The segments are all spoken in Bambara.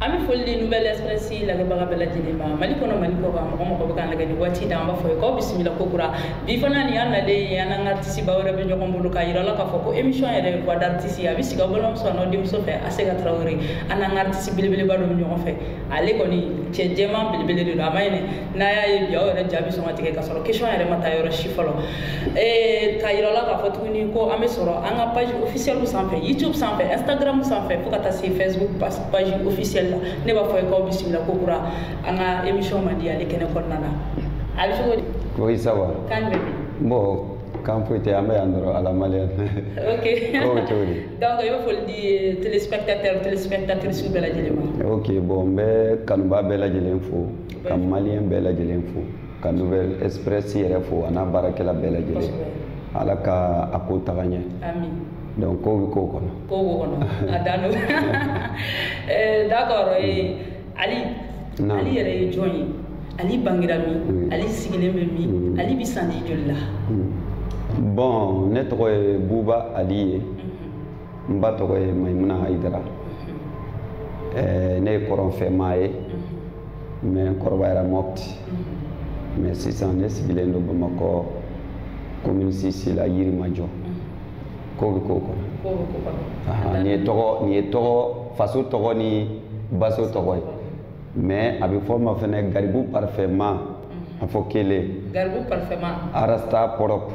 an bɛ foli di nouvelle express lagɛbaga bɛɛ lajɛlen ma mali kɔnɔ mali kɔ kan mɔgɔ mɔgɔ bɛ k'an lagɛ ni waati da an b'a fɔ ye k'aw bisimila kokura bi fana nin y'an nalen ye an n'an ka artisteba wɛrɛ bɛ ɲɔgɔn bolo k'a yira la k'a fɔ ko émission yɛrɛ voix d'artiste a bɛ sigi aw balimamuso an'aw denmuso fɛ a se ka tarawele an n'an ka artiste belebeleba dɔ bɛ ɲɔgɔn fɛ ale kɔni cɛ jɛman belebele de don a ma ɲinɛ n'a y'a ye bi aw yɛrɛ ja bɛ sɔn ka tigɛ ka sɔrɔ question yɛrɛ ma taa yɔrɔ si fɔlɔ eh, ka yira la k'a fɔ tuguni ko an bɛ sɔrɔ an ka page officielle sanfɛ youtube sanfɛ instagram sanfɛ fo ka taa se facebook page officielle la ne b'a fɔ ye k'aw bisimila kokura an ka émission mandi ale kɛnɛ kɔnɔna na a bɛ cogo di. oui ça va. kan bɛ di. bon kan foyi tɛ an bɛ yan dɔrɔn à la malien ok o bɛ cogo di donc i bɛ foli di téléspectateur téléspectatrice bɛɛ lajɛlen ma ok bon n bɛ kanubaa bɛɛ lajɛlen fo ka maliyɛn bɛɛ lajɛlen fo ka nouvelle express yɛrɛ fo a n'a baarakɛla bɛɛ lajɛlen ala ka a ko taga ɲɛ donc ko bɛ ko kɔnɔ kow b'o kɔnɔ a dan don eh, d'accord eh, ali ali yɛrɛ ye jɔn ye ali bangera min ali sigilen bɛ min ali bɛ sanji joli la bon ne tɔgɔ ye buba ali ye n ba tɔgɔ ye mayimuna ayidara ne ye kɔrɔnfɛmaa ye mais n kɔrɔbayara mɔpti mais sisan ne sigilen don bamakɔ commune six la yirimajɔ ko bɛ ko kɔnɔ nin ye tɔgɔ nin ye tɔgɔ faso tɔgɔ ni baso tɔgɔ ye mais a bɛ fɔ n ma fɛnɛ garibu parfɛma a fɔ kelen garibu parfɛma rasta propre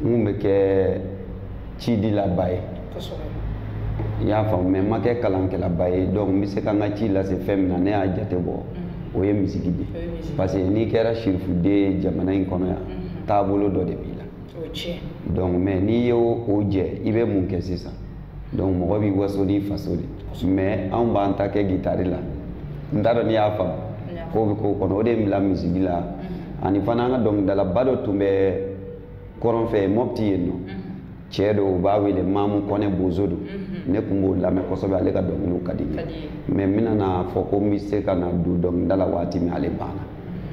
n tun bɛ kɛ cidilaba ye i y'a faamu mais n ma kɛ kalankɛlaba ye donc n bɛ se ka n ka ci lase fɛn min na ne y'a jate bɔ mm-hmm. o ye misigi de parce que n'i kɛra sirifuden ye jamana in kɔnɔ yan mm-hmm. taabolo dɔ de b'i la donc mais n'i ye o jɛ i bɛ mun kɛ sisan donc mɔgɔ b'i waso n'i faso de mais anw b'an ta kɛ gitari la n t'a dɔn n'i y'a faamu ko bɛ ko kɔnɔ o de ye n bila misigi la mhm. ani fana an ka dɔnkilidalaba dɔ tun bɛ kɔrɔn fɛ mɔpti yen nɔ mhm. cɛ don u b'a wele mamu kɔnɛ bozo don mhm. ne tun b'o lamɛn kosɛbɛ ale ka dɔnkiliw ka di n ye mais n bɛna n'a fɔ ko n bɛ se ka na don dɔnkilida la waati min ale banna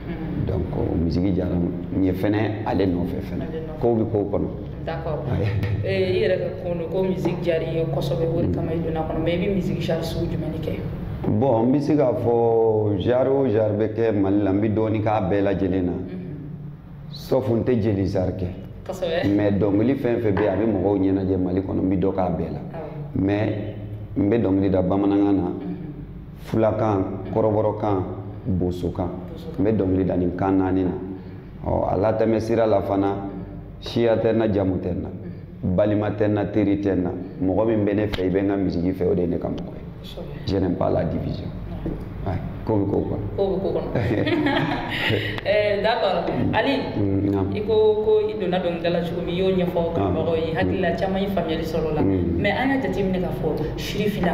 Mm-hmm. donc euh, misigi diyara n ye fɛnɛ ale nɔfɛ fɛnɛ ko bɛ ko kɔnɔ d'accord eh, i yɛrɛ ka kuma don ko misigi diyara i ye kosɛbɛ o de kama i donn'a kɔnɔ mais i bɛ misigi genre sugu jumɛn de kɛ bon n bɛ se k'a fɔ genre o genre bɛ kɛ mali la n bɛ dɔɔnin k'a bɛɛ lajɛlen na mm-hmm. sauf n tɛ jeli genre kɛ mais dɔnkili fɛn fɛn bɛ yen a bɛ mɔgɔw ɲɛnajɛ mali kɔnɔ n bɛ dɔ k'a bɛɛ la mais n bɛ dɔnkili da bamanankan na mm-hmm. fulakan kɔrɔbɔrɔkan bosokan n bɛ dɔnkili da nin kan naani na ɔ a latɛmɛ sira la fana siya tɛ n na jamu tɛ n na balima tɛ n na teri tɛ n na mɔgɔ min bɛ ne fɛ i bɛ n ka misiki fɛ o de ye ne ka mɔgɔ ye je n'aime pas la division ko bɛ ko kɔnɔ ko bɛ ko kɔnɔ eh, d'accord mm. ali mm, i ko ko i donna dɔnkilidala cogo min i y'o ɲɛfɔ kanubagaw ye hakili la mm. caman ye faamuyali sɔrɔ o la mais an y'a jateminɛ k'a fɔ sirifina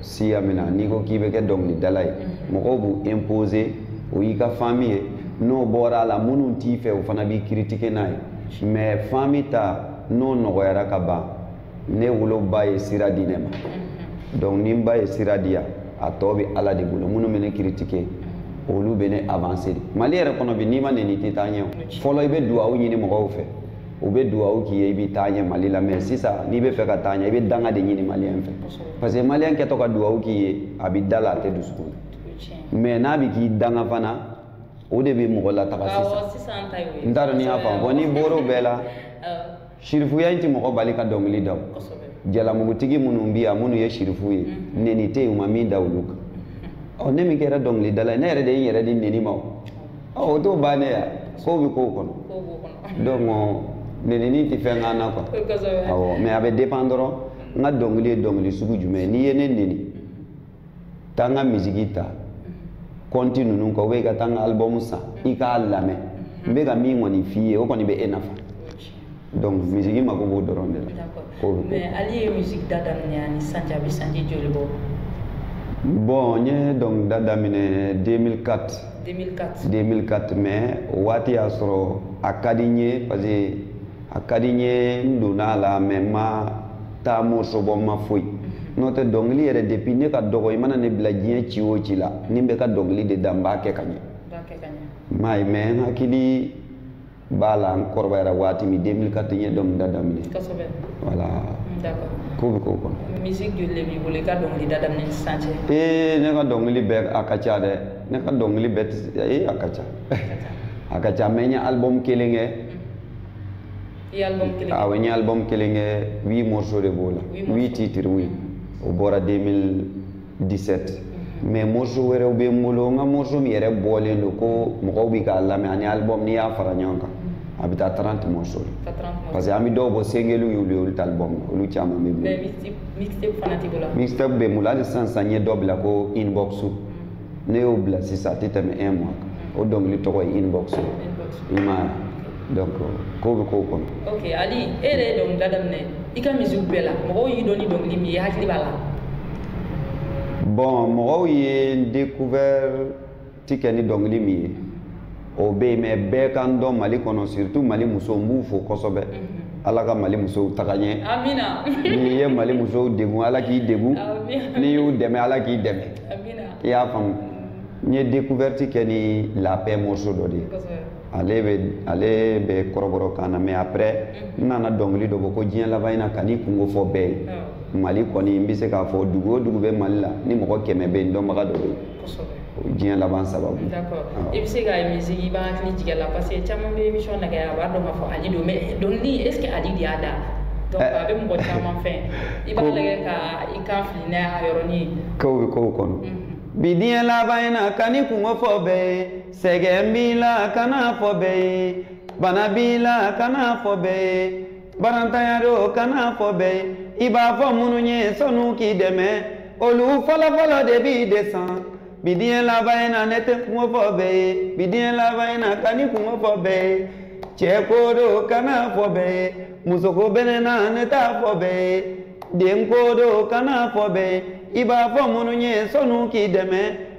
siya min na n'i ko k'i bɛ kɛ dɔnkilidala ye mhm. mɔgɔw b'u imposer o y'i ka fami ye n'o bɔra a la minnu t'i fɛ o fana b'i critiquer n'a ye mais fami ta n'o nɔgɔyara ka ban ne woloba ye sira di ne ma mhm. donc ni n ba ye sira di yan a tɔ bɛ ala de bolo minnu bɛ ne critiquer mhm. olu bɛ ne avancer de mali yɛrɛ kɔnɔ bi n'i ma nɛni i tɛ taa ɲɛ o fɔlɔ i bɛ duwawu ɲini mɔgɔw fɛ u bɛ dugawu k'i ye i bɛ taa ɲɛ mali la mɛ sisan n'i bɛ fɛ ka taa ɲɛ i bɛ danga de ɲini maliyɛn fɛ parce que maliyɛn kɛtɔ ka dugawu k'i ye a bɛ da la a tɛ dusukun na mɛ n'a bɛ k'i danga fana o de bɛ mɔgɔ lataga sisan n t'a dɔn n'i y'a faamu bɔn n'i bɔra o bɛɛ la sirifuya in tɛ mɔgɔ bali ka dɔnkili da o jalamugutigi minnu bɛ yan minnu ye sirifu ye nɛni tɛ yen u ma min da olu kan ɔ ne min kɛra dɔnkilidala ye ne yɛrɛ de ye n yɛrɛ di nɛni ma o ɔ o t'o bannen ya kow bɛ kow kɔnɔ kow b'o kɔnɔ donc nenini tɛ fɛn k'an na quoi kosɛbɛ awɔ mais a bɛ dépend dɔrɔn n ka dɔnkili ye dɔnkili sugu jumɛn ye n'i ye ne neni taa n ka misiki ta kɔnti ninnu kan ou bien i ka taa n ka album san i k'a lamɛn n bɛ ka min kɔni f'i ye o kɔni bɛ e nafa donc misiki mako b'o dɔrɔn de la mais ale ye misiki da daminɛ ani sanji a bɛ sanji joli bɔ bon n ye dɔnkilida daminɛ 2004 2004 2004 mais o waati y'a sɔrɔ a ka di n ye parce que a ka di n ye n donna a la mais n ma taa morceau bɔ n ma foyi mhm. n'o tɛ dɔnkili yɛrɛ depuis ne ka dɔgɔ i mana ne bila diɲɛ ci o ci la ni n bɛ ka dɔnkili de da n b'a kɛ ka ɲɛ i m'a ye mais n hakili b'a la n kɔrɔbayara waati min 2004 n ye dɔnkilida daminɛ kosɛbɛ voilà mm, d'accord ko bɛ ko kɔnɔ musique joli de b'i bolo i ka dɔnkilida daminɛ ni sisan cɛ ee ne ka dɔnkili bɛɛ a ka ca dɛ ne ka dɔnkili bɛɛ tɛ ee a ka ca a ka ca mɛ n ye album kelen kɛ mm. i ye album kelen awɔ n ye album kelen kɛ huit morceaux de b'o la huit titres oui o bɔra 2000 17 mais morceau wɛrɛw bɛ n bolo n ka morceau min yɛrɛ bɔlen don ko mɔgɔw bɛ k'a lamɛn ani album n'i y'a fara ɲɔgɔn kan a bɛ taa 30 morceau la parce que an bɛ dɔw bɔ singlew y'olu ye olu tɛ album ye olu caman bɛ n bolo mixtape bɛ n bolo hali sisan sisan n ye dɔ bila ko inbox ne y'o bila sisan a tɛ tɛmɛ un mois kan o dɔnkili tɔgɔ ye inbox i m'a ye donc ko bɛ kow kɔnɔ ok ali e yɛrɛ ye dɔnkilida daminɛ i ka misiw bɛɛ la mɔgɔw y'i dɔn ni dɔnkili min ye hakili b'a la bon mɔgɔw ye n découverte kɛ ni dɔnkili min ye o bɛ yen mais bɛɛ ka n dɔn mali kɔnɔ surtout mali musow n b'u fo kosɛbɛ mhm. ala ka mali musow taga ɲɛ amina n'i ye mali musow degun ala k'i degun n'i y'u dɛmɛ ala k'i dɛmɛ i y'a faamu n ye découverte kɛ ni la paix morceau dɔ de ye ale bɛ ale bɛ kɔrɔbɔrɔ kan na mais après n nana dɔnkili dɔ bɔ ko diɲɛ laban in na kan'i kunko fɔ bɛɛ ye mali kɔni n bɛ se k'a fɔ dugu o dugu bɛ mali la ni mɔgɔ kɛmɛ bɛ yen dɔnbaga dɔ bɛ yen diɲɛ laban sababu i bɛ se ka musique i b'a hakili jigin a la parce que caman bɛ émission lagɛ a b'a dɔn k'a fɔ ali don mais dɔnkili est ce que ali de y'a da donc eh. a bɛ mɔgɔ caman fɛn i b'a lagɛ ka i kan fili n'a y'a yɔrɔnin ye kow bɛ kow kɔnɔ bi diɲɛ laban in na kan'i kunko fɔ bɛɛ ye sɛgɛn b'i la kan'a fɔ bɛɛ ye bana b'i la kan'a fɔ bɛɛ ye baarantanya don kan'a fɔ bɛɛ ye i b'a fɔ minnu ye sɔn'u k'i dɛmɛ olu fɔlɔfɔlɔ de b'i de san bi diɲɛ laban in na ne tɛ n kunko fɔ bɛɛ ye bi diɲɛ laban in na kan'i kunko fɔ bɛɛ ye cɛko don kan'a fɔ bɛɛ ye musoko bɛ ne na ne t'a fɔ bɛɛ ye denko don kan'a fɔ bɛɛ ye i b'a fɔ minnu ye sɔn'u k'i dɛmɛ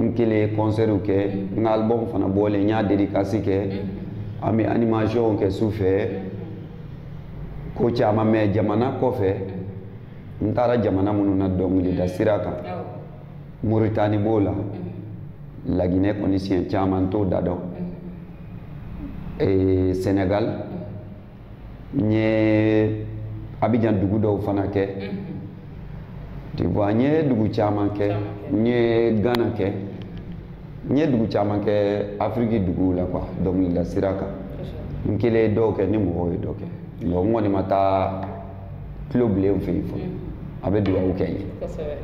n kelen ye kɔnsɛriw kɛ n ka albɔmu fana bɔlen n y'a dedikasi kɛ an bɛ animasiyɔnw kɛ su fɛ ko caman mɛ jamana kɔfɛ n taara jamana minnu na dɔnkilida sira kan moritani b'o la laginɛ kɔni siɲɛ caman n t'o da dɔn senegal n ye abijan dugu dɔw fana kɛ tu vois n ye dugu caman kɛ n ye gana kɛ n ye dugu caman kɛ afiriki duguw la kuwa dɔnkilida sira kan n kelen ye dɔw kɛ ni mɔgɔw ye dɔ kɛ n kɔni ma taa tulobilen fɛ yen fɔlɔ a bɛ dugawu kɛ n ye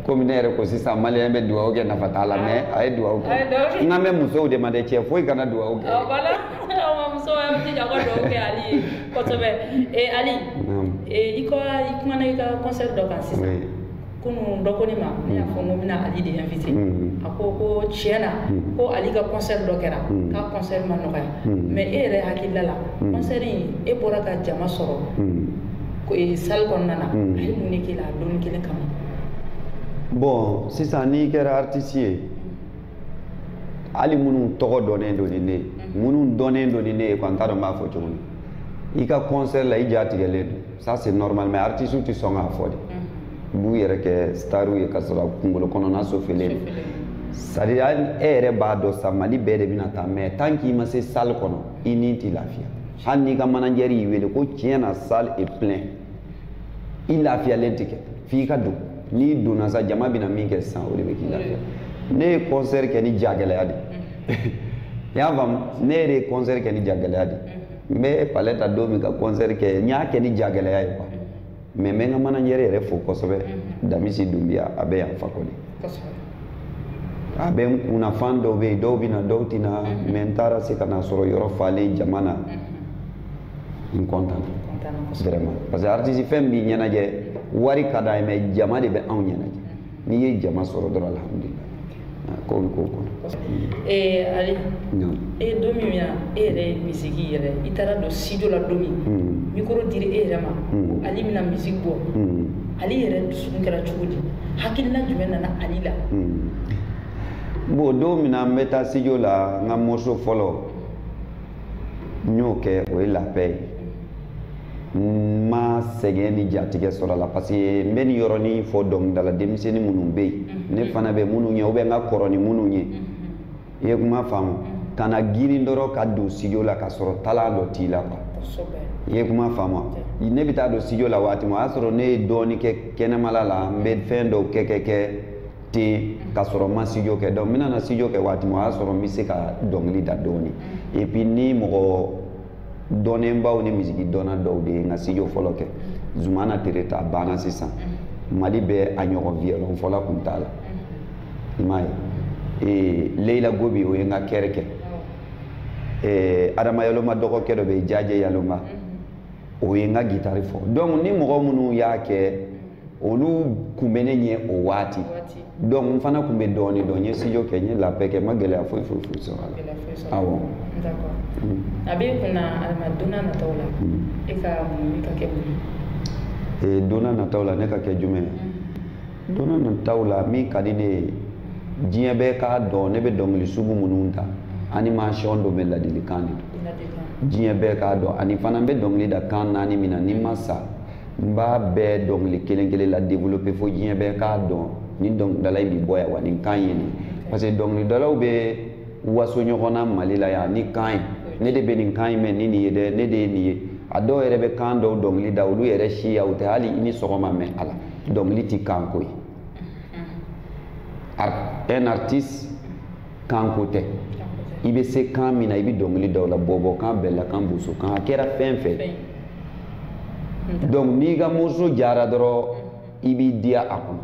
komi ne yɛrɛ ko sisan maliyɛn bɛ dugawu kɛ nafa t'a la mɛ a ye dugawu kɛ n kan bɛ musow de ma dɛ cɛ foyi kana dugawu kɛ musow y'aw jija aw ka dugawu kɛ ali ye kosɛbɛ ali i ka i kumana i ka kɔnsɛri dɔ kan sisan kunun dɔ ko ne ma ne y'a fɔ n ko n bɛna ali de invité mm-hmm. a ko ko tiɲɛ na mm-hmm. ko ali ka concert dɔ kɛra mm-hmm. k'a concert ma nɔgɔya mais e yɛrɛ hakilila la concert in e bɔra ka jama sɔrɔ e, salle kɔnɔna na a ye mun de k'i la a donnin kelen kama bon sisan n'i kɛra artiste ye hali minnu tɔgɔ dɔnnen don ni ne ye minnu dɔnnen don ni ne ye quoi n t'a dɔn n b'a fɔ cogo min i ka concert la i ja tigɛlen don ça c'est normal mais artiste tɛ sɔn k'a fɔ de u b'u yɛrɛ kɛ staru ye ka sɔrɔ kunkolo kɔnɔna sofelen don sadiya e yɛrɛ b'a dɔn sa mali bɛɛ de bɛna taa mais tant k'i ma se salle kɔnɔ i ni tɛ lafiya hali n'i ka manajɛri y'i wele ko tiɲɛ na salle est plein i lafiyalen tɛ kɛ f'i ka don n'i donna sa jama bɛna min kɛ sisan o de bɛ k'i lafiya ne ye concert kɛ ni jagɛlɛya de ye i y'a faamu ne yɛrɛ ye concert kɛ ni jagɛlɛya de ye n bɛ palais ta don min ka concert kɛ n y'a kɛ ni jagɛlɛya ye quoi mais n bɛ n ka manajɛri yɛrɛ fo kosɛbɛ damisi dunbiya a bɛ yan fakɔli a bɛ n kunna fan dɔw bɛ yen dɔw bɛ na dɔw tɛ na mais n taara se ka na sɔrɔ yɔrɔ falen jama na n kɔntanna vraiment parce que artiste fɛn b'i ɲɛnajɛ wari ka d'an ye mais jama de bɛ anw ɲɛnajɛ n'i ye jama sɔrɔ dɔrɔn alihamudulila ko bɛ k'o kɔnɔ. ee ale e don min na e yɛrɛ ye misiki yɛrɛ i taara don studio la don min hmm. mikoro dira e yɛrɛ ma hmm. ko ale bɛna misiki bɔ hmm. ale yɛrɛ dusukun kɛra cogo di hakilina jumɛn nana ale la. bon don min na n bɛ taa studio la n ka morceau fɔlɔ n y'o kɛ o ye la paix ye. n ma sɛgɛn ni jatigɛ sɔrɔ a la parce que n bɛ nin yɔrɔnin fɔ dɔnkilidala denmisɛnnin minnu bɛ yen ne fana bɛ minnu ɲɛ ou bien n ka kɔrɔ ni minnu ye i ye kuma faamu ka na girin dɔrɔn ka don studio la ka sɔrɔ talent dɔ t'i la quoi i ye kuma faamu ne bɛ taa don studio la waati min o y'a sɔrɔ ne ye dɔɔnin kɛ kɛnɛmala la n bɛ fɛn dɔw kɛ kɛ kɛ ten ka sɔrɔ n ma studio kɛ donc n bɛna na studio kɛ waati min o y'a sɔrɔ n bɛ se ka dɔnkili da dɔɔnin et puis ni mɔgɔ dɔnnenbaw ni misiki dɔnna dɔw de ye n ka studio fɔlɔ kɛ zumana tereta banna sisan mali bɛɛ a ɲɔgɔn violon fɔla kun t'a la i m'a ye leyila gobi o ye n ka chœur kɛ Eh, adama yalonba dɔgɔkɛ dɔ bɛ jajɛ yalonba o ye n ka gitari fɔ donc ni mɔgɔ minnu y'a kɛ olu kun bɛ ne ɲɛ o waati donc n fana kun bɛ dɔɔni dɔn n ye studio kɛ n ye la paix kɛ n ma gɛlɛya foyi foyi foyi sɔrɔ a la awɔ a bɛ kun na alima don n'a nataw la e ka mun ka kɛ mun ye don n'a nataw la ne ka kɛ jumɛn ye don n'a nataw la min ka di ne ye diɲɛ bɛɛ k'a dɔn ne bɛ dɔnkili sugu minnu ta animation don mais ladilikan de don diɲɛ bɛɛ k'a dɔn ani fana n bɛ dɔnkili da kan naani min na ni n ma sa n b'a bɛɛ dɔnkili kelen kelen la développer fo diɲɛ bɛɛ k'a dɔn ni dɔnkilidala in bi bɔ yan wa nin kan ye nin parce que dɔnkilidalaw bɛ waso ɲɔgɔn na mali la yan ni kan ye ne de bɛ nin kan in mɛn ni nin ye dɛ ne de ye nin ye a dɔw yɛrɛ bɛ kan dɔw dɔnkili da olu yɛrɛ siya u tɛ hali i ni sɔgɔma mɛn a la dɔnkili tɛ kan ko ye un artiste kanko tɛ i bɛ se kan min na i bɛ dɔnkili da o la bɔbɔkan bɛlakan bosokan a kɛra fɛn fɛn donc n'i ka morceau diyara dɔrɔn i b'i diya a kɔnɔ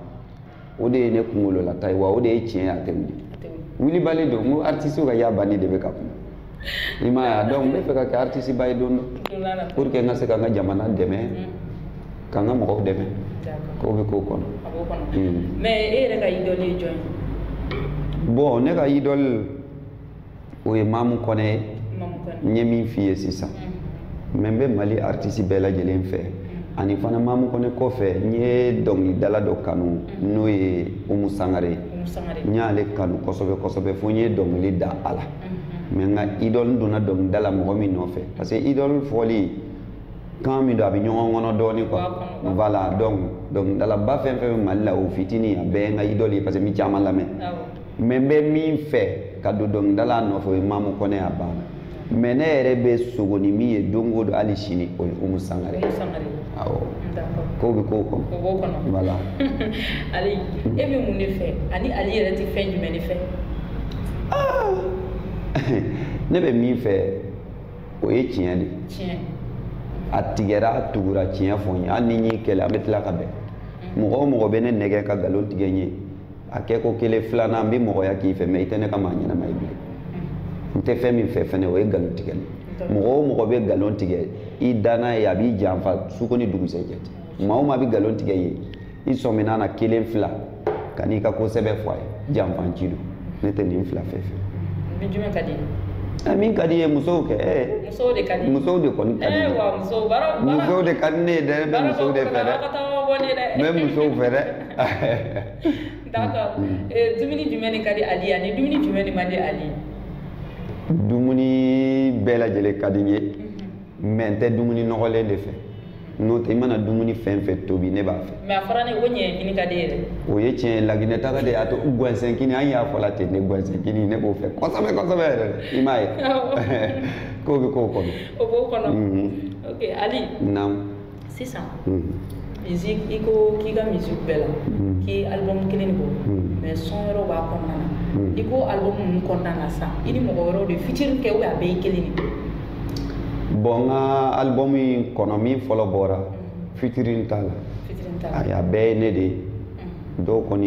o de ye ne kunkololata ye wa o de ye tiɲɛ ye a tɛ wuli wulibali don n ko artistew ka y'a banni de bɛ ka kuma i m'a ye a donc n bɛ fɛ ka kɛ artiste ba ye don dɔ pour que n ka se ka n ka jamana dɛmɛ mm. ka n ka mɔgɔw dɛmɛ ko bɛ ko kɔnɔ mm. mais e yɛrɛ ka idole ye jɔn ye bon ne ka idole o ye mamu kɔnɛ ye n ye min f'i ye sisan mm. mais n bɛ mali artiste bɛɛ lajɛlen fɛ ani fana mamu kɔnɛ kɔfɛ n ye dɔnkilidala dɔ kanu n'o ye umu sangare n y'ale kanu kosɛbɛ kosɛbɛ fo n ye dɔnkili da a la mais n ka idole n donna dɔnkilida la mɔgɔ min nɔfɛ parce que idole fɔli kan min don a bɛ ɲɔgɔn kɔnɔ dɔɔnin quoi voilà donc dɔnkilidalaba fɛn fɛn bɛ mali la o fitini a bɛɛ ye n ka idole ye parce que n bɛ caman lamɛn mais n bɛ min fɛ ka don dɔnkilida la nɔfɛ o ye mamu kɔnɛ a banna mais ne yɛrɛ bɛ sogo ni min ye don o don hali sini o ye umu sangare awɔ ko bɛ ko kɔnɔ o b'o kɔnɔ voilà ali e bɛ mun de fɛ ani ali yɛrɛ tɛ fɛn jumɛn de fɛ ne bɛ min fɛ o ye tiɲɛ de tiɲɛ a tigɛra a tugura tiɲɛ fɔ n ye hali ni n y'i kɛlɛ an bɛ tila ka bɛn mɔgɔ o mɔgɔ bɛ ne nɛgɛ ka nkalon tigɛ n ye a kɛ ko kelen filanan n bɛ mɔgɔya k'i fɛ mais i tɛ ne ka maa ɲɛnama ye bilen n tɛ fɛn min fɛ fɛnɛ o ye nkalon tigɛ mɔgɔ o mɔgɔ bɛ nkalon tigɛ i danna ye a b'i janfa suko ni dugusɛjɛ cɛ maa o maa bɛ nkalon tigɛ i ye i sɔminna na kelen fila kan'i ka ko sɛbɛ fɔ a ye janfanci don ne tɛ nin fila fɛ fɛn jumɛn ka di ɛ min ka di n ye musow kɛ ɛ musow de ka di musow de kɔni ka di ɛ wa musow baara musow de ka di ne ye dɛ n bɛ musow de fɛ dɛ n bɛ musow fɛ dɛ d'accord eh, dumuni jumɛn de ka di ali ye ani dumuni jumɛn de man di ali ye dumuni bɛɛ lajɛlen ka di n ye mhm. mais n tɛ dumuni nɔgɔlen de fɛ n'o tɛ i mana dumuni fɛn fɛn tobi ne b'a fɛ mais a fɔra ne ko ɲɛɲɛkini ka di yɛrɛ o ye tiɲɛ ye laginɛ taga de y'a to gɔnsɛnkini an y'a fɔ la ten ne gɔnsɛnkini ne b'o fɛ kosɛbɛ kosɛbɛ yɛrɛ i m'a ye ko bɛ ko kɔnɔ o b'o kɔnɔ mhm. ok ali naamu sisan hmm. musique i ko k'i ka musique bɛɛ la hmm. k'i ye album kelen de bɔ hmm. mais son wɛrɛw b'a kɔnɔna na i ko album ninnu kɔnɔna na sisan i ni mɔgɔ wɛrɛw de ye featuring kɛ ou bien a bɛɛ ye kelen de bon n ka album in kɔnɔ min fɔlɔ bɔra featuring t'a la ayi a bɛɛ ye ne de ye dɔw kɔni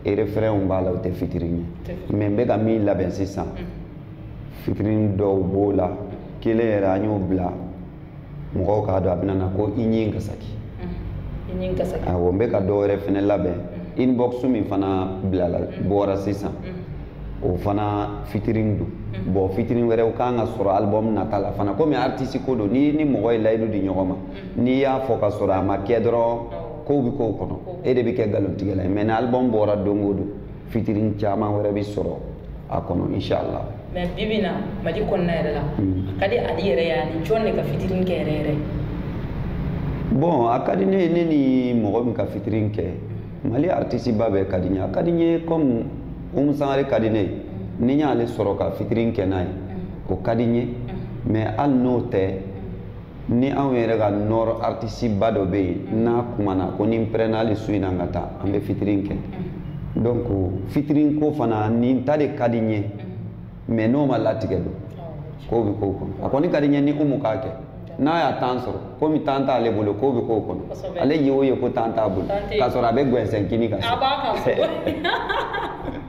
ye refrainw b'a la u tɛ featuring ye mais n bɛ ka min labɛn sisan featuring dɔw b'o la kelen yɛrɛ an y'o bila mɔgɔw k'a dɔn a bɛna na ko i ɲin ka saki awɔ n bɛ ka dɔ wɛrɛ fɛnɛ labɛn mm-hmm. inbox min fana bilala mm-hmm. bɔra sisan mm-hmm. o fana featuring don bɔn featuring wɛrɛw kan ka sɔrɔ album nata la fana komi artiste ko don ni ni mɔgɔ ye layidu di ɲɔgɔn ma n'i y'a fɔ ka sɔrɔ a ma kɛ dɔrɔn kow bɛ kow kɔnɔ e de bɛ kɛ nkalontigɛla ye mais ni album bɔra don o don featuring caman wɛrɛ bɛ sɔrɔ a kɔnɔ inshala mais bi bi in na mali kɔnɔna yɛrɛ la hmm. a ka di ali yɛrɛ ye a ni jɔn de ka featuring kɛ yɛrɛ yɛrɛ bɔn a ka di ne ye ne ni mɔgɔ min ka featuring kɛ mali aritisi ba bɛɛ ka di n ye a ka di n ye kɔmi umu sangare ka di ne ye hmm. ni n y'ale sɔrɔ ka featuring kɛ n'a ye hmm. o ka di n ye mais hali n'o tɛ ni anw yɛrɛ ka nord artisiba dɔ bɛ yen n'a kumana ko ni n pɛrɛnna hali su in na n ka taa an bɛ featuring kɛ donc featuring ko fana nin ta de ka di n ye mais n'o ma latigɛ don ko bɛ ko kɔnɔ a kɔni ka di n ye ni umu k'a kɛ n'a y'a temps sɔrɔ komi temps t'ale bolo ko bɛ ko kɔnɔ ale ye o ye ko temps t'a bolo ka sɔrɔ a bɛ gɛnsɛn kini kan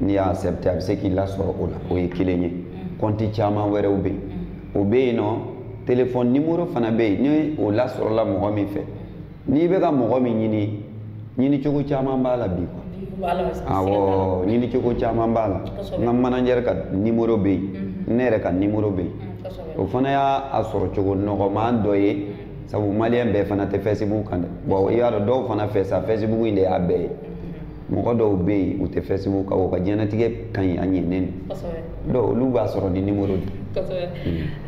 n'i y'a accepté a bɛ se k'i lasɔrɔ o la o ye kelen ye kɔnti mm. caman wɛrɛw bɛ yen o bɛ yen nɔ telefɔni nimoro fana bɛ yen ni o lasɔrɔla mɔgɔ min fɛ n'i bɛ ka mɔgɔ min ɲini ɲini cogo caman b'a la bi quoi awɔ ɲini cogo caman b'a la n ka manager ka nimoro bɛ yen mm-hmm. ne yɛrɛ ka nimoro bɛ yen mm, o fana y'a sɔrɔ cogo nɔgɔman dɔ ye sabu maliyɛn bɛɛ fana tɛ fɛsibuku kan dɛ bɔn i y'a dɔn dɔw fana fɛ sa fɛsibuku in de y'a bɛɛ ye mɔgɔ dɔw bɛ yen u tɛ fɛsibuku kan u ka diɲɛnatigɛ ka ɲi a ɲɛnen don donc olu b'a sɔrɔ ni nimoro de kosɛbɛ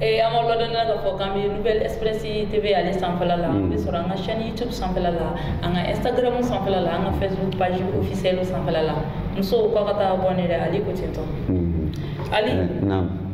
ee an b'aw ladɔnniya k'a fɔ k'an bɛ nouvelle express tv ale sanfɛla la an bɛ sɔrɔ an ka chaîne youtube sanfɛla la an ka instagram sanfɛla la an ka facebook page officielle sanfɛla la musow k'a ka taa abonner dɛ ali ko ten tɔ ali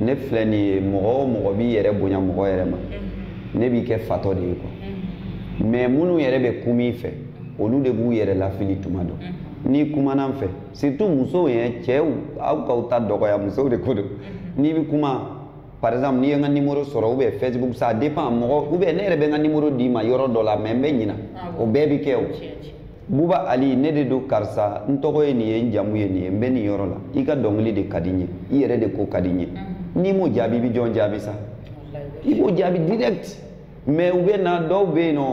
ne filɛ nin ye mɔgɔ o mɔgɔ b'i yɛrɛ bonya mɔgɔ yɛrɛ ma ne b'i kɛ fatɔ de ye quoi mais minnu yɛrɛ bɛ kuma i fɛ olu de b'u yɛrɛ lafili tuma dɔ n'i kumana n fɛ surtout musow ye cɛw aw k'aw ta dɔgɔya musow de ko don n'i bɛ kuma par exemple n'i ye n ka nimoro sɔrɔ ou bien facebook ça dépend mɔgɔ ou bien ne yɛrɛ bɛ n ka nimoro d'i ma yɔrɔ dɔ la mais n bɛ ɲina o bɛɛ bɛ kɛ o buba ali ne de don karisa n tɔgɔ ye nin ye n jamu ye nin ye n bɛ nin yɔrɔ la i ka dɔnkili de ka di n ye i yɛrɛ de ko ka di n ye mm-hmm. n'i m'o jaabi i bɛ jɔn jaabi sa i b'o jaabi direct mais u bɛ na dɔw bɛ yen nɔ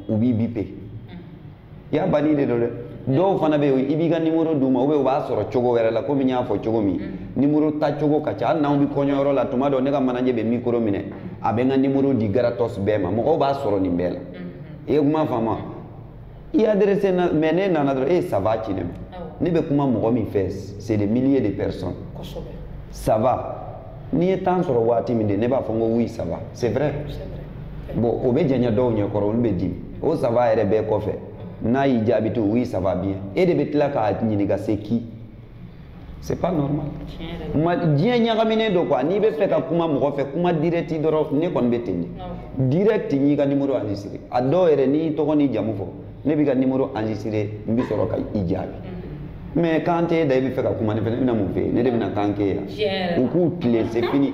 u b'i bipe mm-hmm. i y'a banni de don dɛ dɔw fana bɛ yen i b'i ka nimoro d'u ma u b'a sɔrɔ cogo wɛrɛ la komi n y'a fɔ cogo min mm-hmm. nimoro ta cogo ka ca hali n'anw bɛ kɔɲɔyɔrɔ la tuma dɔ ne ka manager bɛ mikoro minɛ a bɛ n ka nimoro di gratos bɛɛ ma mɔgɔw b'a sɔrɔ nin bɛɛ la i ye kuma faamu wa i adressé na mais n'e nana dɔrɔn e ça va ci ne ma ne bɛ kuma mɔgɔ min fɛ c'est des milliers de personnes ça va ne ye temps sɔrɔ waati min de ne b'a fɔ n ko oui ça va c'est vrai bon o bɛ janya dɔw ɲɛ kɔrɔ olu bɛ dimi o ça va yɛrɛ bɛɛ kɔfɛ n'a y'i jaabi ko oui ça va bien e de bɛ tila k'a ɲininka c'est qui c'est pas normal mais diɲɛ ɲagaminen don quoi n'i bɛ fɛ ka kuma mɔgɔ fɛ kuma direct dɔrɔn ne kɔni bɛ ten de direct n y'i ka numéro enregistré a dɔw yɛrɛ n'i tɔgɔ n'i jamu fɔ ne b'i ka numéro enregistré n bɛ sɔrɔ ka i jaabi mhm. mais kan t'e da i bɛ fɛ ka kuma ne fɛ ne bɛna mun f'e ye ne de bɛna kan k'e ye u k'u tilen c'est fini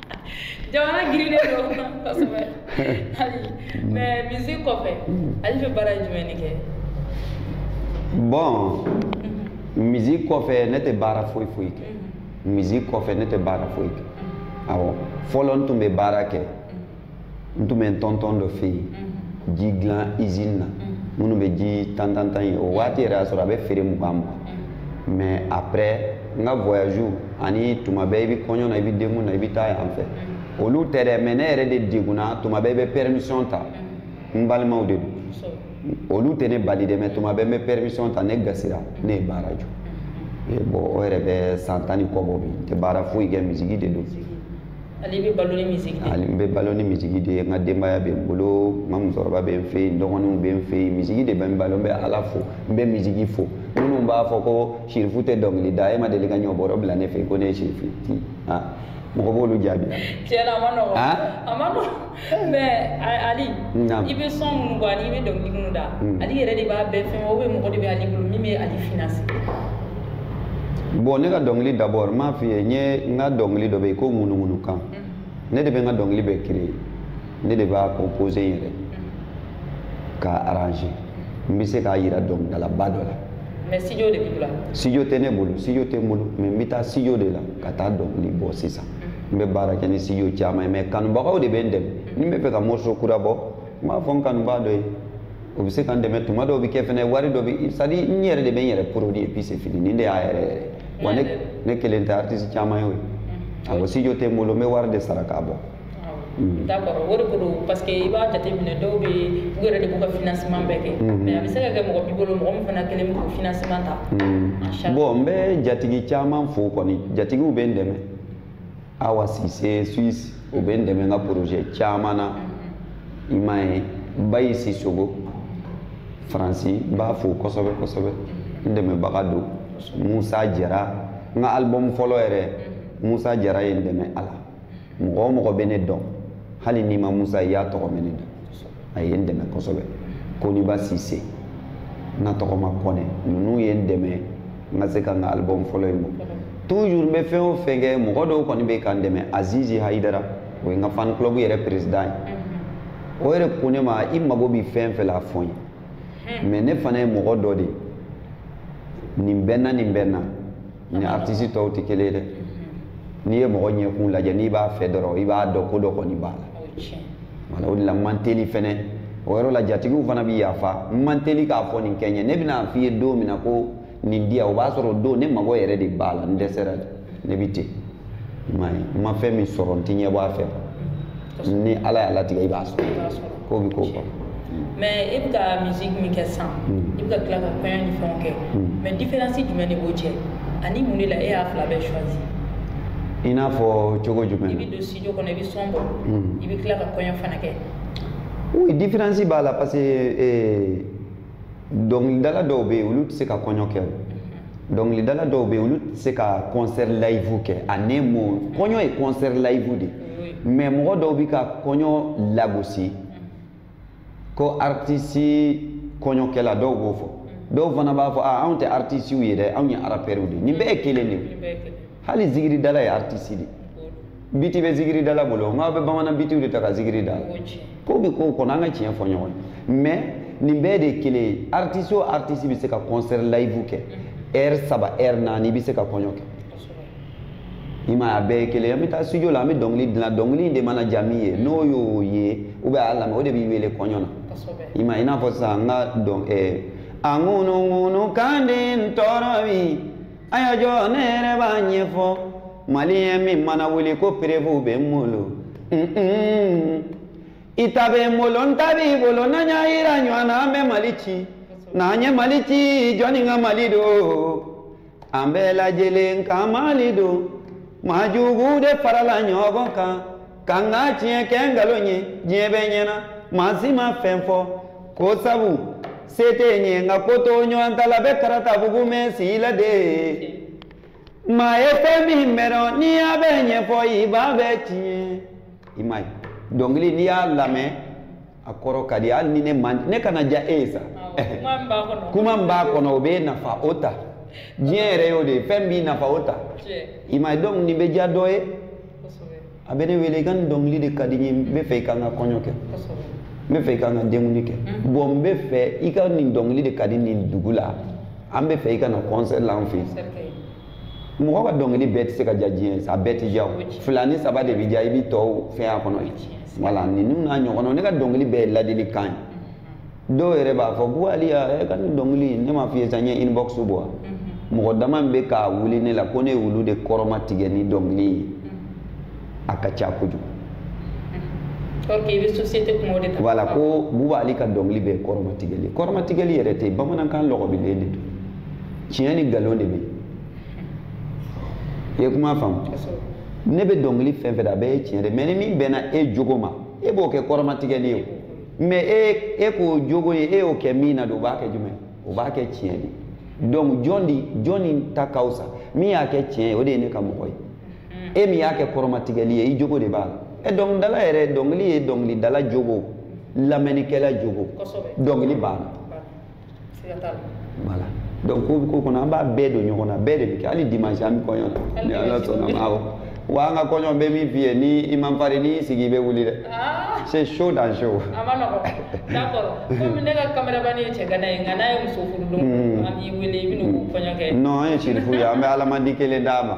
jamana girinnen don kosɛbɛ ali mais musique kɔfɛ ali bɛ baara jumɛn de kɛ bon musique kɔfɛ ne tɛ baara foyi foyi kɛ musique kɔfɛ ne tɛ baara foyi kɛ awɔ fɔlɔ n tun bɛ baara kɛ n tun bɛ n tɔntɔn dɔ fɛ yen mhm. ji dilan izini na minnu bɛ ji tan tan tan ye o waati yɛrɛ y'a sɔrɔ a bɛ feere mugan mugan mais après n ka voyage ani tuma bɛɛ i bɛ kɔɲɔ na i bɛ denkun na i bɛ taa yan fɛ olu tɛ dɛ mais ne yɛrɛ de degunna tuma bɛɛ i bɛ permission ta n balimaw de don olu tɛ ne bali dɛ mais tuma bɛɛ n bɛ permission ta ne gasira ne ye baara jɔ bon o yɛrɛ bɛ san tan ni kɔ bɔ bi n tɛ baara foyi kɛ misigi de don ali bɛ balo ni misigi de ye ne bɛ balo ni misigi de ye n ka denbaya bɛ n bolo n ka musokɔrɔba bɛ n fɛ yen n dɔgɔninw bɛ n fɛ yen misigi de b'an balo n bɛ ala fo n bɛ misigi fo minnu b'a fɔ ko sirifu tɛ dɔnkili da e ma deli ka ɲɔbɔrɔ bila ne fɛ yen ko ne ye sirifu ye mɔgɔ b'olu jaabi tiɲɛna a ma nɔgɔn a ma nɔgɔn mais ali i bɛ son minnu bɔ ani i bɛ dɔnkili minnu da hmm. ali yɛrɛ de b'a bɛɛ fɛn ou bien mɔgɔ de bɛ ali bolo min bɛ ali financer bon ne ka dɔnkili d'abord n m'a f'i ye n ye n ka dɔnkili dɔ bɛ yen ko ŋunuŋunu kan hmm. ne de bɛ n ka dɔnkili bɛɛ créer ne de b'a composer n yɛrɛ hmm. k'a arranger n bɛ se k'a jira dɔnkilidalaba dɔ la mais studio de b'i bolo studio tɛ ne bolo studio tɛ n bolo mais n bɛ taa studio de la ka taa dɔnkili bɔ sisan n bɛ baara kɛ ni studio caman ye mais kanubagaw de bɛ n dɛmɛ ni n bɛ fɛ ka morceau kura bɔ n b'a fɔ n kanubaa dɔ ye o bɛ se ka n dɛmɛ tuma dɔw bɛ kɛ fɛnɛ wari dɔ bɛ c'est à dire n yɛrɛ de bɛ n yɛrɛ produit et puis c'est fini nin de y'a yɛrɛ yɛrɛ wa ne ne kelen tɛ artiste caman ye o ye awɔ ah, studio tɛ n bolo n bɛ wari de sara k'a bɔ. d'accord o de ko don parce que i b'a jateminɛ dɔw bɛ yen u yɛrɛ de b'u ka financement bɛɛ kɛ mm-hmm. mais a bɛ se ka kɛ mɔgɔ b'i bolo mɔgɔ min fana kɛlen bɛ k'o financement ta mm-hmm. bon n bɛ jatigi caman fo kɔni jatigiw bɛ n dɛmɛ awa sise suisse o bɛ n dɛmɛ n ka projet caman na i m'a ye bayi sisogo faransi n b'a fo kosɛbɛ kosɛbɛ n dɛmɛbaga don musa jara n ka album fɔlɔ yɛrɛ musa jara ye n dɛmɛ a la mɔgɔ o mɔgɔ bɛ ne dɔn hali n'i ma musa ye i y'a tɔgɔ mɛn ne da a ye n dɛmɛ kosɛbɛ koniba sise n ka tɔgɔma kɔnɛ ninnu ye n dɛmɛ n ka se ka n ka album fɔlɔ in bɔ toujours n bɛ fɛn o fɛn kɛ mɔgɔ dɔw kɔni bɛ ka n dɛmɛ azizi hayidara o ye n ka fan club yɛrɛ président ye o yɛrɛ ko ne ma i mago bɛ fɛn fɛn la a fɔ n ye mais ne fana ye mɔgɔ dɔ de ye nin bɛɛ na nin bɛɛ na ni artiste tɔw tɛ kelen ye dɛ mm-hmm. n'i ye mɔgɔ ɲɛkun lajɛ n'i b'a fɛ dɔrɔn i b'a dɔn ko dɔ kɔni b'a la voilà o de la n man teli fɛnɛ o yɔrɔ la jatigiw fana bi yafa n man teli k'a fɔ nin kɛ n ye ne bɛn'a f'i ye don min na ko nin di yan o b'a sɔrɔ o don ne mago yɛrɛ de b'a la n dɛsɛra ne bi ten i m'a ye n ma fɛn min sɔrɔ n t'i ɲɛ bɔ a fɛ ni ala y'a latigɛ i b'a sɔrɔ ko bɛ ko kɔnɔ mais i bɛ ka musique min kɛ sisan i bɛ ka tila ka kɔɲɔ ni fɛnw kɛ mais différence jumɛn de b'o cɛ ani mun de la e y'a fila bɛɛ choisi i n'a fɔ cogo jumɛn i bɛ don studio kɔnɔ i bɛ son bɔ i bɛ tila ka kɔɲɔ fana kɛ oui différence b'a la parce que dɔnkilidala dɔw bɛ yen olu tɛ se ka kɔɲɔ kɛ o dɔnkilidala dɔw bɛ yen olu tɛ se ka concert live kɛ a ne mo kɔɲɔ ye concert live de mais mɔgɔ dɔw bɛ ka kɔɲɔ lagosi ko artiste kɔɲɔkɛla dɔw b'o fɔ dɔw fana b'a fɔ a anw tɛ artiste ye dɛ anw ye arapɛriw de ye nin bɛɛ ye kelen de ye hali zigiri dala ye artiste de biti bɛ zigiri dala bolo nka a bɛ bamanan bitiw de ta ka zigiri da ko bɛ ko kɔnɔ an ka tiɲɛ fɔ ɲɔgɔn ye mais nin bɛɛ de ye kelen ye artiste o artiste bɛ se ka concert live kɛ heure saba heure naani i bɛ se ka kɔɲɔ kɛ i m'a ye a bɛɛ ye kelen ye an bɛ taa studio la an bɛ dɔnkili dilan dɔnkili de mana diya min ye n'o y'o ye ou bien a y'a lamɛn o de b'i wele kɔɲɔ na i m'a ye i n'a fɔ sisan an ka dɔn ɛɛ a ŋunuŋunu kan de b'an tɔɔrɔ bi a y'a jɔ ne yɛrɛ b'a ɲɛfɔ maliyɛn min mana wuli ko preuve bɛ n bolo i ta bɛ n bolo n ta b'i bolo n'an y'a yira ɲɔgɔn na an bɛ mali ci n'an ye mali ci jɔnni ka mali don an bɛɛ lajɛlen ka mali don maa juguw de farala ɲɔgɔn kan ka n ka tiɲɛ kɛ nkalon ye diɲɛ bɛɛ ɲɛna maa si ma fɛn fɔ ko sabu se tɛ n ye nka ko to ɲɔgɔn ta la bɛ karata bugu mɛɛn si la de maa ye fɛn min mara n'i y'a bɛɛ ɲɛfɔ i b'a bɛɛ tiɲɛ i m'a ye dɔnkili n'i y'a lamɛn a kɔrɔ ka di hali ni ne man ne kana diya e ye sa kuma min b'a kɔnɔ o b'i nafa o ta diɲɛ yɛrɛ y'o de ye fɛn b'i nafa o ta i m'a ye donc nin bɛ diya dɔ ye a bɛ ne wele i ka nin dɔnkili de ka di n ye n b'a fɛ i ka n ka kɔɲɔ kɛ n b'a fɛ i ka n ka denkundi kɛ mhm. bon n b'a fɛ i ka nin dɔnkili de ka di nin dugu la an b'a fɛ i ka na concert la an fɛ yen mɔgɔ ka dɔnkili bɛɛ tɛ se ka diya diɲɛ sa a bɛɛ tɛ diya o fila ni saba de bɛ diya i bɛ tɔw fɛn a kɔnɔ wala ninnu n'a ɲɔgɔnnaw ne ka dɔnkili bɛɛ ye ladilikan ye mm-hmm. dɔw yɛrɛ b'a fɔ ko ali e ka nin dɔnkili ne m'a f'i ye sa n ye inbox bɔ wa mm-hmm. mɔgɔ dama bɛ ka wuli ne la ko ne ye olu de kɔrɔma tigɛ ni dɔnkili ye mm-hmm. a ka ca kojugu wala ko buba ali ka dɔnkili bɛɛ ye kɔrɔmatigɛli kɔrɔmatigɛli yɛrɛ tɛ bamanankan lɔgɔbilen de don tiɲɛ ni nkalon de bɛ i ye kuma faamu ne bɛ dɔnkili fɛn fɛn da a bɛɛ ye tiɲɛ de mais ni min bɛnna e jogo ma e b'o kɛ kɔrɔmatigɛli ye o mɛ e e k'o jogo ye e y'o kɛ min na de o b'a kɛ jumɛn o b'a kɛ tiɲɛ de donc jɔn de jɔn ni ta ka fisa min y'a kɛ tiɲɛ ye o de ye ne ka mɔgɔ ye e min y'a kɛ kɔrɔmatigɛli ye i jogo de b'a la ɛ eh, dɔnkilidala yɛrɛ dɔnkili ye dɔnkilidala jogo lamɛnnikɛla jogo dɔnkili banna voilà donc ko ko kɔnɔ an b'a bɛɛ don ɲɔgɔn na bɛɛ de bɛ kɛ hali dimanche an bɛ kɔɲɔ la ni ala sɔnna a ma awɔ wa an ka kɔɲɔ bɛ min f'i ye ni i man farin n'i sigi i bɛ wuli dɛ c'est chaud dans chaud. a ma nɔgɔ d'accord komi ne ka kameramani ye cɛgana ye nka n'a ye muso furu don an b'i wele i bɛ n'o kɔɲɔ kɛ. non an ye sirifu ye an bɛ alamandi kelen d'a ma.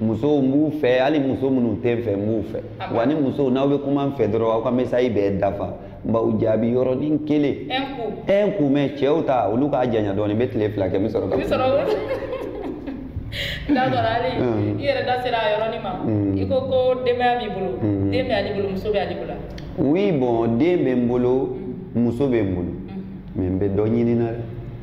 musow n b'u fɛ hali muso minnu tɛ n fɛ n b'u fɛ ah wa ni musow n'aw bɛ kuma n fɛ dɔrɔn aw ka message bɛɛ dafa n b'aw jaabi yɔrɔnin kelen un coup mais cɛw ta olu k'a janya dɔɔnin n bɛ tile fila kɛ n bɛ sɔrɔ ka d'accord ali hmm. i yɛrɛ da sera a yɔrɔnin ma hmm. i ko ko denbaya b'i bolo hmm. den bɛ ali bolo muso bɛ ali bolo oui bon den bɛ n bolo muso bɛ n bolo mais n bɛ dɔ ɲini na dɛ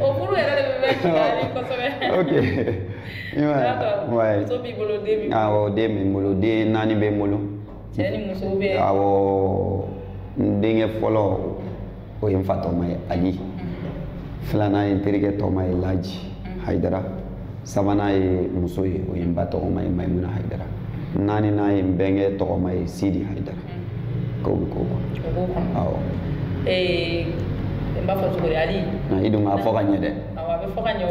o furu yɛrɛ de bɛ mɛɛn jigiyali kosɛbɛ. ok i m'a ye. muso b'i bolo den b'i bolo. awɔ den bɛ n bolo den naani bɛ n bolo. cɛ ni muso bɛɛ. awɔ n denkɛ fɔlɔ o ye n fa tɔma ye ali mm-hmm. filanan ye n terikɛ tɔma ye laji mm-hmm. hayidara sabanan ye muso ye o ye n ba tɔgɔma ye mayimuna hayidara naaninan ye n bɛnkɛ tɔgɔma ye sidi hayidara. K'o bɛ k'o kɔnɔ. O b'o kɔnɔ. Awɔ. Ee n b'a fɔ cogo di Ali. I dun k'a fɔ ka ɲɛ dɛ. Awɔ a bɛ fɔ ka ɲɛ.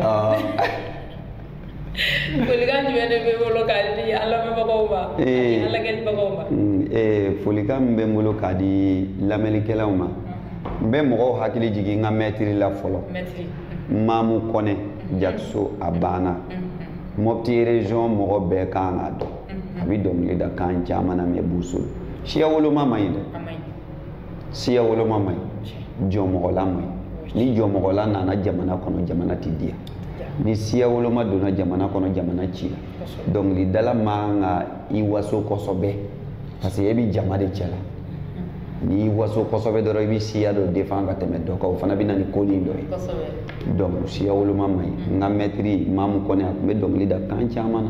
folikan jumɛn de b'i bolo k'a di an lamɛnbagaw ma ani an lajɛlibagaw ma. folikan min bɛ n bolo k'a di lamɛnnikɛlaw ma n bɛ mɔgɔw hakili jigin n ka mɛtiri la fɔlɔ maamu kɔnɛ jakiso a banna mɔpiti erezɔn mɔgɔ bɛɛ ka kan k'a dɔn. a bɛ dɔnkili da kan caman na mɛ boso siya woloma man ɲi dɛ siya woloma man ɲi jɔmɔgɔla man ɲi ni jɔmɔgɔla nana jamana kɔnɔ jamana tɛ diya ni siya woloma donna jamana kɔnɔ jamana cila dɔnkilidala man kan k'i waso kosɛbɛ parce que e bɛ jama de cɛ la n'i waso kosɛbɛ dɔrɔn i bɛ siya dɔ defan ka tɛmɛ dɔ kan o fana bɛ na ni ko nin dɔ ye donc siya woloma man ɲi n ka mɛtiri mamu kɔnɛ a tun bɛ dɔnkili da kan caman na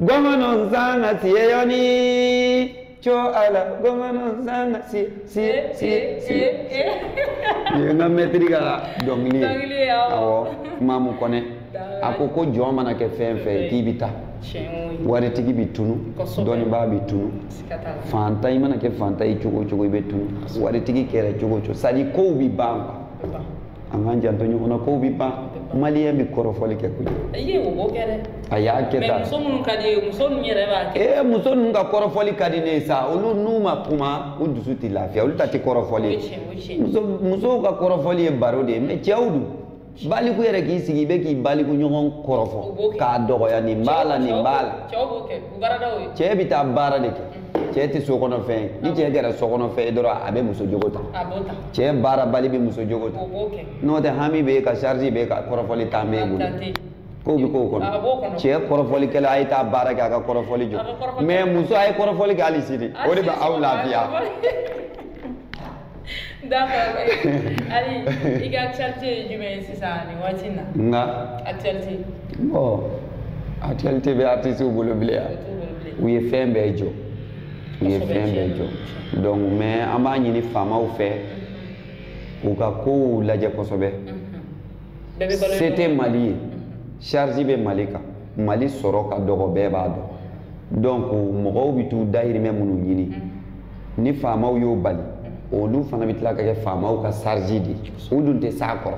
Gwamnan zana tiye yoni co ala gwamnan zana tiye tiye tiye tiye. Ye n ka mɛtiri ka dɔnkili ye. Dɔnkili ye awɔ. Awɔ Mamu Kɔnɛ. A ko ko jɔn mana kɛ fɛn fɛn ye k'i bɛ taa. Tiɲɛ o. Waritigi bɛ tunu. Kosɛbɛ. Dɔnnibaa bɛ tunu. Siga t'a la. Fantan i mana kɛ fantan ye cogo o cogo i bɛ tunu. Waritigi kɛra cogo o cogo sadi kow bɛ ban kuwa. an k'an janto ɲɔgɔn na kow bi ban maliyɛn bi kɔrɔfɔli kɛ koyi i ye o b'o kɛ dɛ a y'a kɛ tan muso minnu ka di ye muso ninnu yɛrɛ b'a kɛ ee muso ninnu ka kɔrɔfɔli ka di ne ye sa olu n'u ma kuma u dusu tɛ lafiya olu ta tɛ kɔrɔfɔli ye muso musow ka kɔrɔfɔli ye baro de ye mɛ cɛw dun baliku yɛrɛ k'i sigi i bɛ k'i baliku ɲɔgɔn kɔrɔfɔ k'a dɔgɔya nin b'a la nin b'a la cɛ bɛ taa baara de kɛ cɛ tɛ so kɔnɔ fɛn ye ni cɛ kɛra so kɔnɔ fɛn ye dɔrɔn a bɛ muso jogo ta cɛ baarabali bɛ muso jogo ta n'o tɛ hami b'i kan charge b'i kan kɔrɔfɔli tan b'i bolo ko bɛ ko kɔnɔ cɛ kɔrɔfɔlikɛla a ye taa baara kɛ a ka kɔrɔfɔli jɔ mɛ muso a ye kɔrɔfɔli kɛ hali sini o de bɛ aw lafiya d'accord ali i ka actualité ye jumɛn ye sisan nin waati in na n ka actualité bon actualité bɛ artistiw bolo bilen ya u ye fɛn bɛɛ jɔ u ye fɛn bɛɛ jɔ donc mais an b'a ɲini faamaw fɛ k'u ka kow lajɛ kosɛbɛ se tɛ mali ye charge bɛ mali kan mali sɔrɔ ka dɔgɔ bɛɛ b'a dɔn donc mɔgɔw bɛ t'u dayirimɛ minnu ɲini ni faamaw y'o bali olu fana bɛ tila ka kɛ faamaw ka charge de u dun tɛ s'a kɔrɔ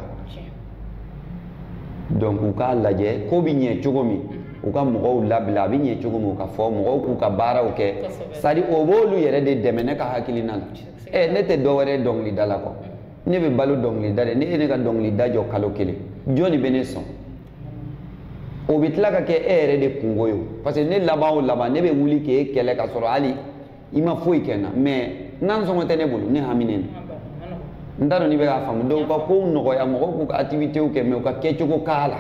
donc u k'a lajɛ ko bɛ ɲɛ cogo min u ka mɔgɔw labila a bɛ ɲɛ cogo min u k'a fɔ mɔgɔw k'u ka baaraw kɛ sadi o b'olu yɛrɛ de dɛmɛ ne ka hakilina la ɛ ne tɛ dɔwɛrɛ dɔnkilidala kɔ ne bɛ balo dɔnkilida de n'e ye ne ka dɔnkilida jɔ kalo kelen jɔn de bɛ ne sɔn o bɛ tila ka kɛ e yɛrɛ de kunko ye parce que ne laban o laban ne bɛ wuli k'e kɛlɛ ka sɔrɔ hali i ma foyi kɛ n na mɛ nasɔngɔ tɛ ne bolo ne haminen don n t'a dɔn n'i bɛ k'a faamu donc ka kow nɔgɔya mɔgɔw k'u ka activités kɛ mɛ u ka kɛcogo k'a la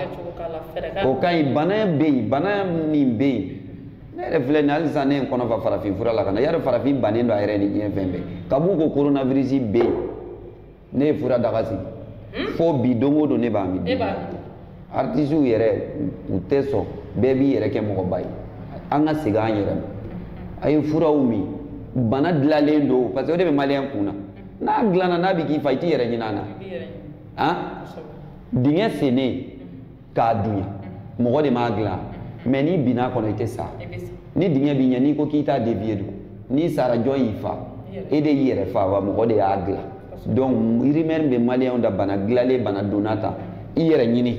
o ka ɲi bana bɛ yen bana min bɛ yen ne yɛrɛ filɛ nin hali sisan ne ye n kɔnɔ fa farafin fura la ka na y'a dɔn farafin bannen don a yɛrɛ ni diɲɛ fɛn bɛɛ kab'u ko coronavirus bɛ yen ne ye fura daga sigi hmm? fo bi don o don ne b'a min artisiw yɛrɛ u tɛ sɔn bɛɛ b'i yɛrɛ kɛ mɔgɔba ye an ka segin an yɛrɛ ma a ye furaw min bana dilanlen don parce que o de bɛ maliyɛn kun na n'a dilanna n'a bɛ k'i fa i t'i yɛrɛ ɲin'a na han dingɛ sennen ka dun ye mɔgɔ de m'a dilan mɛ n'i binna kɔnɔ i tɛ sa ni dingɛ b'i ɲɛ n'i ko k'i t'a dévier dun n'i sara jɔn y'i fa e de y'i yɛrɛ fa wa mɔgɔ de y'a dilan donc rumeur bɛ maliyɛnw da bana dilanlen bana donna ta i yɛrɛ ɲini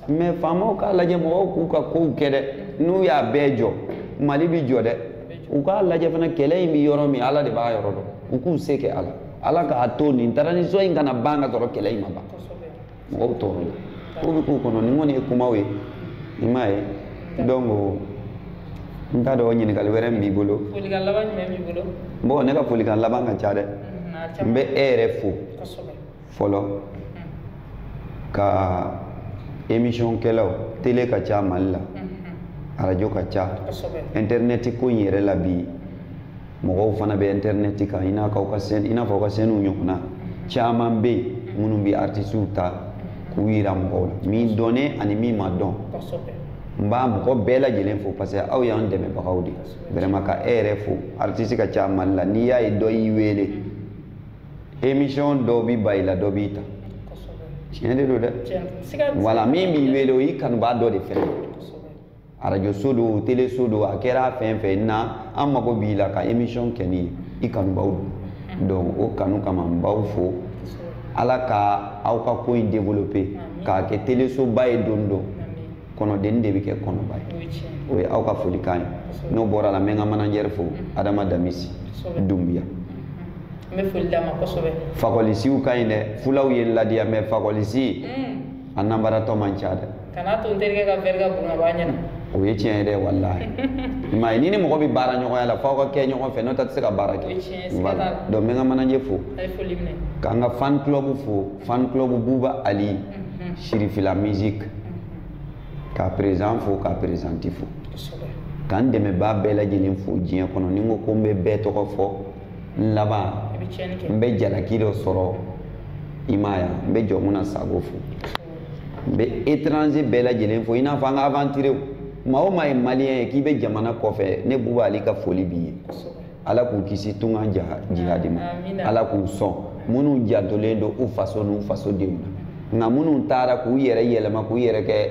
mɛ faamaw k'a lajɛ mɔgɔw k'u ka kow kɛ dɛ n'u y'a bɛɛ jɔ mali bi jɔ dɛ u k'a lajɛ fana kɛlɛ in bi yɔrɔ min ala de b'a yɔrɔ dɔn u k'u se kɛ ala ala k'a to nin transition in kana ban ka sɔrɔ kɛlɛ in ma ban mɔgɔw tɔɔrɔla ko bɛ k'u kɔnɔ nin kɔni ye kumaw ye i m'a ye donc n t'a dɔn ɲininkali wɛrɛ min b'i bolo folikan laban jumɛn b'i bolo bon ne ka folikan laban ka ca dɛ n bɛ e yɛrɛ fo fɔlɔ ka émission kɛlaw télé ka ca mali la arajo ka ca internet ko in yɛrɛ la bi mɔgɔw fana bɛ intɛrinɛti kan i n'a ka ka chaîne i n'a f'aw ka chaîne in ɲɔgɔnna caman bɛ yen minnu bɛ artisiw ta k'u yira mɔgɔw la min dɔnnen ani min ma dɔn n b'a mɔgɔ bɛɛ lajɛlen fo parce que aw y'an dɛmɛbagaw de vraiment ka e yɛrɛ fo artiste ka ca mali la n'i y'a ye dɔ y'i wele émission dɔ bi ban i la dɔ b'i ta tiɲɛ de don dɛ voilà min b'i wele o y'i kanubaa dɔ de fɛnɛ arajoso don teleso don a kɛra fɛn fɛn n'a mago b'i la ka émission kɛ n'i ye i kanubaa don donc o kanu kama n b'aw fo ala ka aw ka ko in développer k'a kɛ telesoba ye don dɔ kɔnɔdennin de bɛ kɛ kɔnɔba ye o ye aw ka folikan ye n'o bɔra la n bɛ n ka manajɛri fo adama damisi dunbiya n bɛ foli d'a ma kosɛbɛ fakɔlisiw ka ɲi dɛ fulaw ye ladiya mɛ fakɔlisi a nanbaratɔ man ca dɛ kana to n terikɛ ka vɛri ka bon ka b'a ɲɛ na o ye tiɲɛ ye dɛ walahi i m'a ye ni ni mɔgɔ bɛ baara ɲɔgɔnya la f'aw ka kɛ ɲɔgɔn fɛ n'o tɛ a tɛ se ka baara kɛ donc n bɛ n ka manaje fo ka n ka fan club fo fan club buba ali mhm. sirifila musique mhm. k'a président fo k'a présidente fo ka n dɛmɛbaa bɛɛ lajɛlen fo diɲɛ kɔnɔ ni n ko ko n bɛ bɛɛ tɔgɔ fɔ n laban n bɛ jalaki dɔ sɔrɔ i m'a ye n bɛ jɔmu na sago fo n bɛ étranger bɛɛ lajɛlen fo i n'a fɔ an ka aventurierw maa o maa ye maliyɛn ye k'i bɛ jamana kɔfɛ ne buba ali ka foli b'i ye ala k'u kisi tunga jihadi ma ala k'u sɔn minnu jantolen don u faso n'u faso denw na nka minnu taara k'u yɛrɛ yɛlɛma k'u yɛrɛ kɛ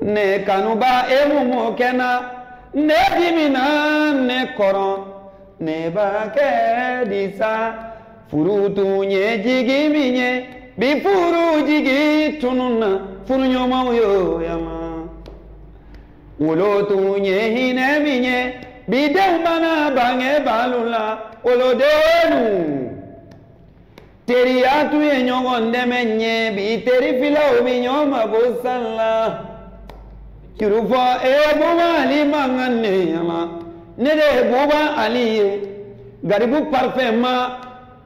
ne kanuba e mun mɔ kɛ na ne dimina ne kɔrɔ ne b'a kɛ di sa furu tun ye jigi min ye bi furu jigi tununna furuɲɔgɔnmaw yo yama wolo tun ye hinɛ min ye bi denw mana bangebaalu la wolodenw teriya tun ye ɲɔgɔn dɛmɛ ye bi terifilaw bi ɲɔgɔn mako san la kirufɔ e buba ali man ka ne yɛlɛma ne de ye buba ali ye garibu parfɛnma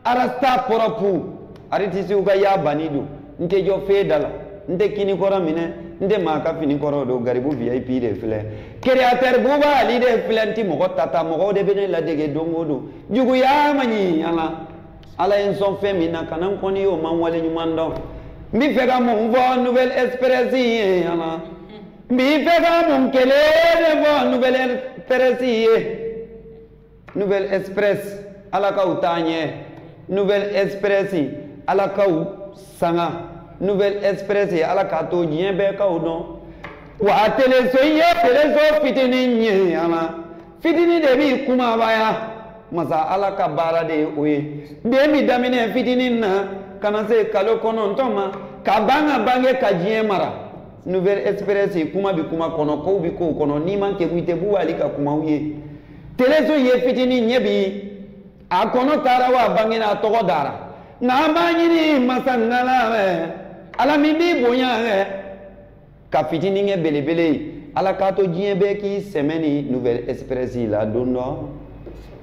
arasta pɔrɔpu aritisiw ka y'a banni don n tɛ jɔ fee da la n tɛ kini kɔrɔ minɛ n tɛ maa ka fini kɔrɔ don garibu vip de filɛ créateur buba ali de filɛ n ti mɔgɔ tata mɔgɔw de bɛ ne ladege don o don juguya man ɲi ala ala ye n sɔn fɛn min na kana n kɔniy'o ma waleɲumandɔn n b'i fɛ ka mun fɔ nouvelle express ye ala n b'i fɛ ka mun kelen de fɔ nouvelle express ye nouvelle express ala k'aw taa ɲɛ nouvelle express ala k'aw sanga nouvelle express ye ala k'a to diɲɛ bɛɛ k'aw dɔn wa teleso ye teleso fitinin ye ala fitinin de bi kumabaya masa ala ka baara de ye o ye den bi daminɛ fitinin na ka na se kalo kɔnɔntɔn ma ka ban ka bange ka diɲɛ mara nouvelle express kuma bi kuma kɔnɔ kow bi kow kɔnɔ n'i man kegu i tɛ buba ali ka kumaw ye teleso ye fitinin ye bi a kɔnɔ tara wa a bangena a tɔgɔ dara nka an b'a ɲini masa ngala fɛ ala min b'i bonya ka fitini kɛ belebele ye ala k'a to diɲɛ bɛɛ k'i sɛmɛ ni nouvelle express la don dɔ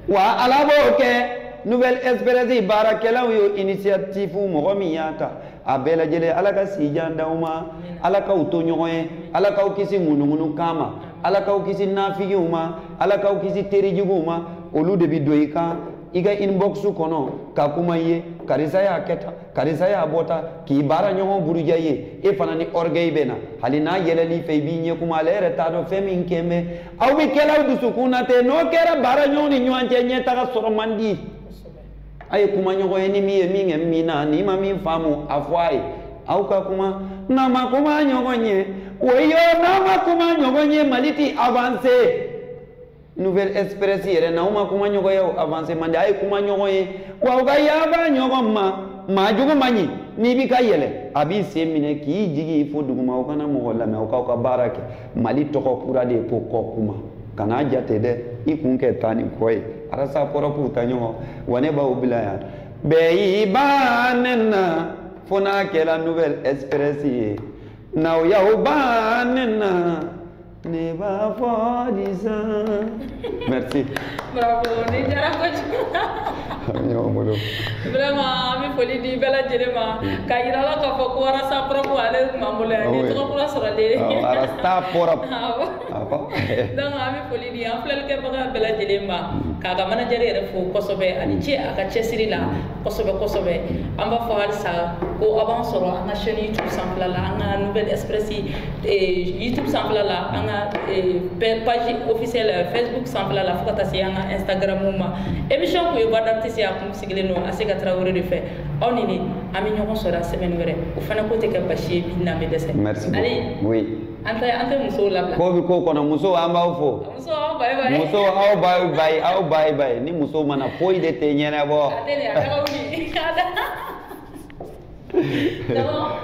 wa ala b'o kɛ nouvelle express baarakɛlaw ye initiative mɔgɔ min y'a ta a bɛɛ lajɛlen ala ka si jan d'aw ma ala k'aw to ɲɔgɔn ye ala k'aw kisi ŋunuŋunukan ma ala k'aw kisi nafigiw ma ala k'aw kisi terijuguw ma olu de bi don i kan i ka inbox kɔnɔ ka kuma i ye karisa y'a kɛ tan karisa y'a fɔ tan k'i baaraɲɔgɔn buruja i ye e fana ni orgueil bɛ na hali n'a yɛlɛl'i fɛ i b'i ɲɛ kumu ale yɛrɛ t'a dɔn fɛn min kɛlen bɛ aw bɛ kɛl'aw dusukun na ten n'o kɛra baaraɲɔgɔn ni ɲɔgɔn cɛ ɲɛtaga sɔrɔ man di a ye kuma ɲɔgɔn ye ni min ye min kɛ min na n'i ma min faamu a fɔ a ye aw ka kuma n'a ma kuma ɲɔgɔn ye woyi yo n'a ma kuma ɲɔgɔn ye mali ti avancer nouvelle express yɛrɛ n'aw ma kuma ɲɔgɔn ye o avance man di a ye kuma ɲɔgɔn ye wa aw ka yafa ɲɔgɔn ma maa jugu man ɲi n'i bɛ ka yɛlɛn a b'i sen minɛ k'i jigi fo duguma aw kana mɔgɔ lamɛn aw k'aw ka baara kɛ mali tɔgɔ kura de ye ko kɔ kuma kana jate dɛ i kun kɛ taa ni kɔ ye arasa pɔrɔpu ta ɲɔgɔn wa ne b'aw bila yan bɛɛ y'i ban ne na fo n'a kɛra nouvelle express ye n'aw y'aw ban ne na ne va pas disant. merci. bravo nin diyara kojugu. ami y'aw bolo. vraiment an bɛ foli di bɛɛ lajɛlen ma. k'a yira la k'a fɔ ko arasa pɔrɔpu ale tun b'an bolo yan. ni tɔgɔ kura sɔrɔlen. awɔ arasa pɔrɔpu. awɔ. awɔ. donc an bɛ foli di an filɛlikɛbaga bɛɛ lajɛlen ma. k'a ka manajɛri yɛrɛ fo kosɛbɛ a ni ce a ka cɛsiri la. kosɛbɛ kosɛbɛ an b'a fɔ halisa ko aw b'an sɔrɔ an ka chaîne youtube sanfɛla la an ka nouvelle express eh, youtube sanfɛla la an ka eh, page officielle eh, facebook sanfɛla la fo ka taa se an ka instagram ma émission kun ye voix d'artiste a kun sigilen don a se ka tarawele de fɛ aw ni ne an bɛ ɲɔgɔn sɔrɔ a semaine wɛrɛ o fana ko tɛ kɛ baasi ye bi n'an bɛ dɛsɛ merci allez oui An tɛ an tɛ musow labila. Ko bɛ ko kɔnɔ musow an b'aw fo. Musow aw bayi bayi. Musow aw bayi bayi aw bayi bayi ni musow ma na foyi de tɛ ɲɛnabɔ. A tɛ nin a taga wuli. Dɔgɔ.